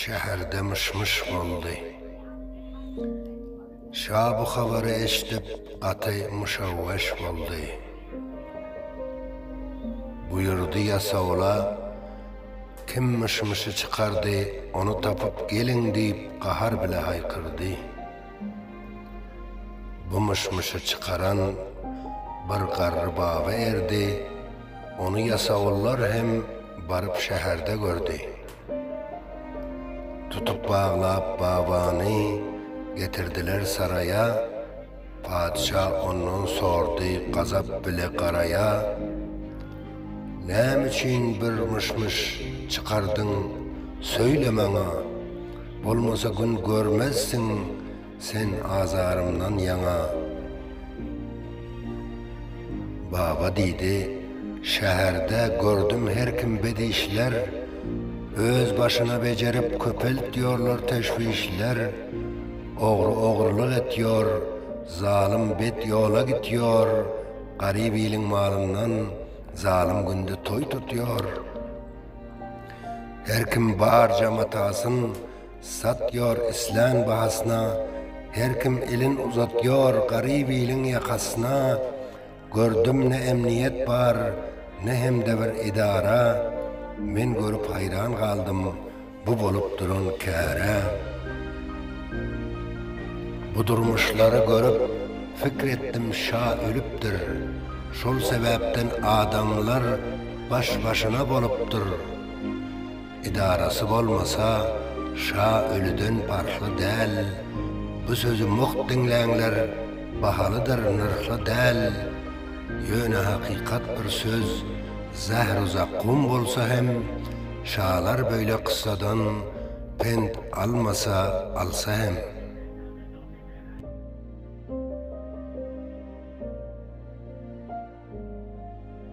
Şäherde myş-myş boldy. Şa bu habary eşidip, gaty muşawweş boldy. Buýurdy ýasawula, Kim myş-myşy çykardy, ony tapyp geliň diýip, gahar bile haýkyrdy. Bu myş-myşy çykaran bir garry baba erdi, ony ýasawullar hem baryp şäherde gördi. Tutup baglap babany getirdiler saraýa, Patyşa ondan sordy gazap bile garaýa, Näme üçin bir myş-myş çykardyň söýle maňa, Bolmasa gün görmezsiň, Sen azarymdan ýaňa, Baba diýdi, Şäherde gördüm her kim bet işler, Öz başyna bejerip köpelt ýorlar teşwişler, Ogry ogrylyk et ýor, zalym bet ýola git ýor, Garyp iliň malyndan, zalym günde toý tut ýor. Her kim barja matasyn, Satýor islän bahasyna, Her kim elin uzatýor garyp iliň ýakasyna, Gördüm ne emniýet bar, ne hem-de bir edara, Men görüp haýran galdym bu bolup duran käre. Bu durmuşlary görüp, fikr etdim şa ölüpdir, Şol sebäpden adamlar baş-başyna bolupdyr. Edarasy bolmasa şa ölüden parhly däl Bu sözi mugt diňläňler bahalydyr nyrhly däl Ýöne hakykat bir söz zähru zakkum bolsa hem Şalar böyle kyssadan pent almasa alsa hem.